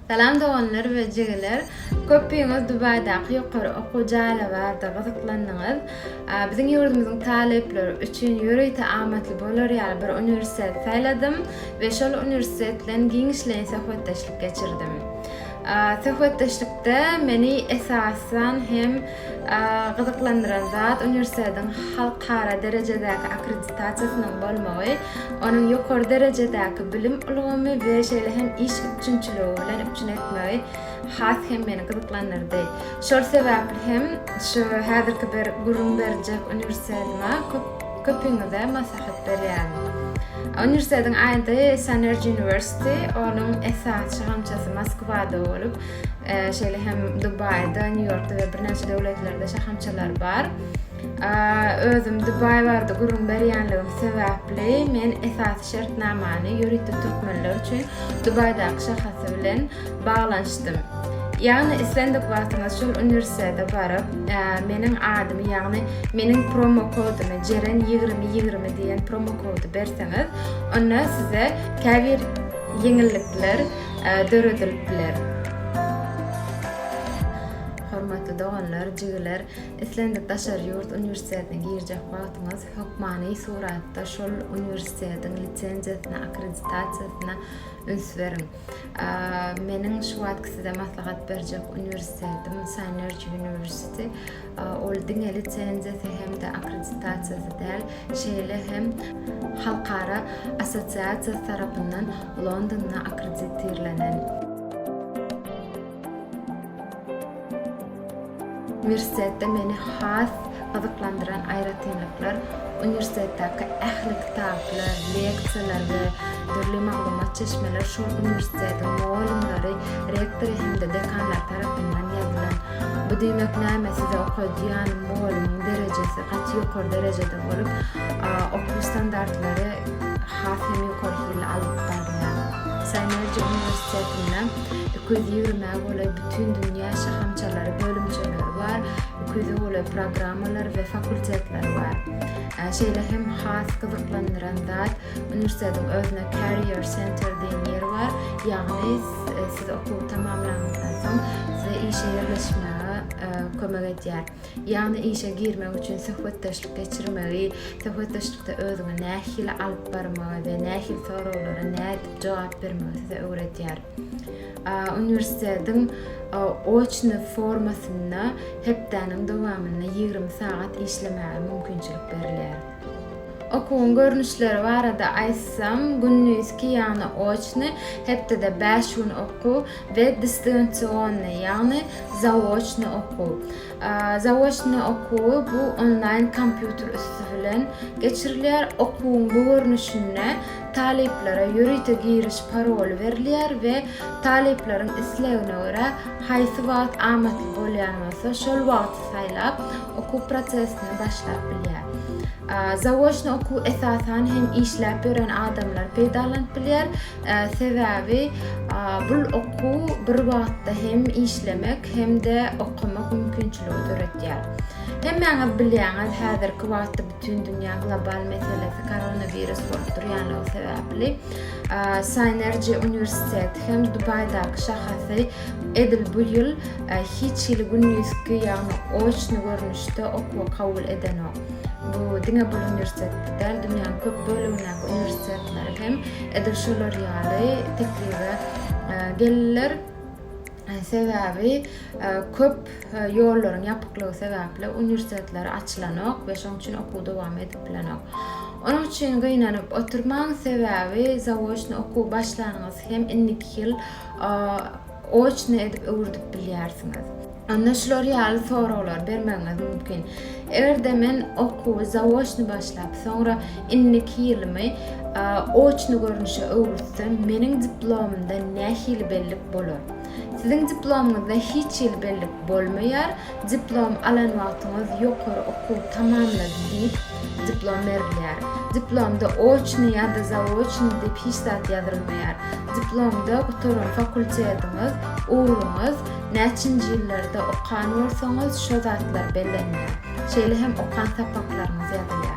Salam doganlar we jigiler. Köpüňiz Dubaýdaky ýokary okuw jaýlar barada gyzyklandyňyz. Biziň ýurdumyzyň talyplary üçin ýörite amatly bolar ýaly bir uniwersitet saýladym we şol uniwersitet bilen giňişleýin söhbetdeşlik geçirdim. Söhbetdeşlikde meni esasan hem Gyzyklandyran zat uniwersitetiň halkara derejedäki akkreditasiýasynyň bolmagy, onuň ýokary derejedäki bilim ulgamy we şeýle hem iş üpjünçiligi bilen üpjün etmegi has hem meni gyzyklandyrdy. Şol sebäpli hem şu häzirki bir gürrüň berjek uniwersitetime köpüňize maslahat berýärin. Uniwersitetiň ady Sunergy University, onuň esasçy gamçasy Moskwada bolup, Şeýle hem Dubaýda, Nýu-Ýorkda we birnäçe döwletlerde şahamçalar bar. Özüm Dubaý barada gürrüň berýänligim sebäpli men esasy şertnamany ýörite türkmenler üçin Dubaýdaky şahasy bilen baglanyşdym. Ýagny islendik wagtyňyz şol uniwersitete baryp, meniň adymy, ýagny meniň promo kodumy Jeren 2020 diýen promo kody berseňiz, onda size käbir ýeňillikler döredilip biler. Hormatly doganlar, jigiler, islendik daşary ýurt uniwersitetine girjek wagtyňyz hökmany suratda şol uniwersitetiň lisenziýasyna, akkreditasiýasyna üns beriň. Meniň şu wagtky size maslahat berjek uniwersitetim Synergy University. Ol diňe lisenziýasy hem-de akkreditasiýasy däl, şeýle hem Halkara assosiasiýasy tarapyndan Londonda akkreditirlenen. Uniwersitetde meni has gyzyklandyran aýratynlyklar uniwersitetdäki ähli kitaplar, leksiýalar we dürli maglumat çeşmeler şol uniwersitetiň mugallymlary, rektory hem-de dekanlary tarapyndan ýazylan. Bu diýmek näme size okadýan molumyň derejesi gaty ýokary derejede bolup okuw standartlary has hem ýokary hilli alnyp barylýar. Synergy uniwersitetinde iki ýüz ýigrime golaý bütin dünýä şahamçalary bölümçeleri bar, iki ýüze golaý programmalary we fakultetleri bar. Şeýle hem has gyzyklandyran zat Uniwersitetiň özüne Career Center diýen ýeri bar, ýagny siz okuwy tamamlaňyzdan soň size işe ýerleşmäge kömek edýär. Ýagny işe girmek üçin söhbetdeşlik geçirmegi, söhbetdeşlikde özüňi nähili alyp barmagy we nähili soraglara nädip jogap bermegi size öwredýär. Uniwersitetiň oçny formasynda hepdäniň dowamynda ýigrimi sagat işlemäge mümkinçilik berilýär. Okuwyň görnüşleri barada aýtsam, gündizki, ýagny oçny, hepdede bäş gün okuw, we distansionnyý, ýagny zaoçnyý okuw. Zaoçnyý okuwy bu onlaýn kompýuter üsti bilen geçirilýär. Okuwyň bu görnüşinde talyplara ýörite giriş paroly berilýär we talyplaryň islegine görä haýsy wagt amatly bolýan bolsa şol wagty saýlap okuw prosesini başlap bilýär. Zaoçny okuw esasan hem işläp ýören adamlar peýdalanyp bilýär, sebäbi bu okuw bir wagtda hem işlemek hem-de okamak mümkinçiligi döredýär. Hemmäňiz bilýäňiz, häzirki wagtda Bütindünýä global meselesi koronawirus bolup durýanlygy sebäpli Synergy uniwersiteti hem Dubaýdaky şahasy edil bu ýyl hiç hili gündizki, ýagny oçny görnüşde okuwa kabul edenok. Bu diňe bu uniwersitetde däl, dünýäniň köp bölegindäki uniwersitetler hem edil şolar ýaly teklibe geldiler. Sebäbi köp Ýollaryň ýapyklygy sebäpli uniwersitetler açylanok we şonuň üçin okuw dowam edip bilenok. Onuň üçin gynanyp oturmaň, sebäbi zaoçny okuw başlanyňyz hem indiki ýyl oçny edip öwürdip bilýärsiňiz. Onda şular ýaly soraglary bermegiňiz mümkin, Eger-de men okuwy zaoçny başlap, soňra indiki ýylymy oçny görnüşe öwrütsem, meniň diplomymda nähili bellik bolar? Siziň diplomyňyzda hiç hili bellik bolmaýar, diplom alan wagtyňyz ýokary okuwy tamamlady diýip diplom berilýär. Diplomda oçnyý ýa-da zaoçnyý diýip hiç zat ýazylmaýar. Diplomda gutaran fakultetiňiz, ugruňyz, näçinji ýyllarda okan bolsaňyz şo zatlar bellenýär. Şeýle hem okan sapaklaryňyz ýazylýar.